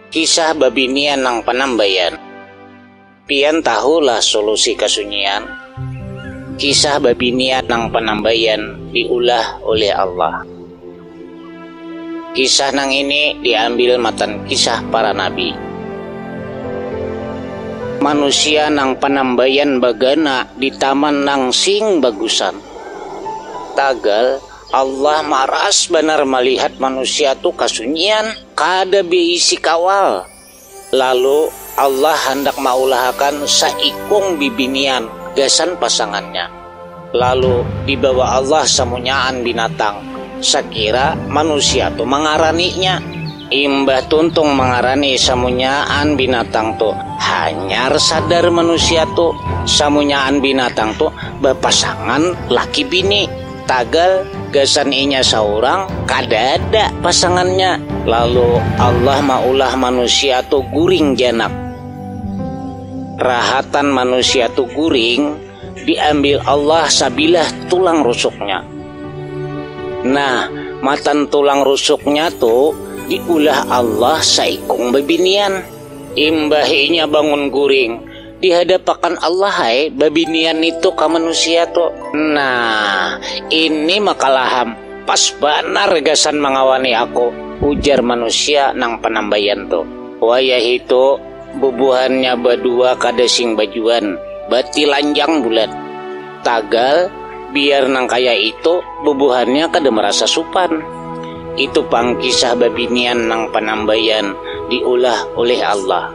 Kisah babinian nang panambaian. Pian tahu lah solusi kasunyian? Kisah babinian nang panambaian diulah ulih Allah. Kisah nang ini diambil matan kisah para nabi. Manusia nang panambaian bagana di taman nang sing bagusan. Tagal, Allah maras banar malihat manusia tu kasunyian, kada beisi kawal. Lalu, Allah handak maulahakan saikung bibinian gasan pasangannya. Lalu, dibawa Allah samunyaan binatang, sakira manusia tu mangaraninya. Imbah tuntung mangarani samunyaan binatang tu, hanyar sadar manusia tu, samunyaan binatang tu bapasangan laki bini, tagal gasan inya saurang kadada pasangannya. Lalu Allah maulah manusia tu guring janak. Rahatan manusia tu guring. Diambil Allah sabilah tulang rusuknya. Nah, matan tulang rusuknya tu diulah Allah saikung babinian. Imbah inya bangun guring, dihadapakan Allah ai babinian nitu ka manusia tu. Nah, ini makalaham, pas banar gasan mangawani aku, ujar manusia nang panambaian tu. Wayahitu, Bubuhannya badua kada sing bajuan, batilanjang bulat. Tagal, biar nang kaya itu, bubuhannya kada marasa supan. Itu pang kisah babinian nang panambaian diulah ulih Allah.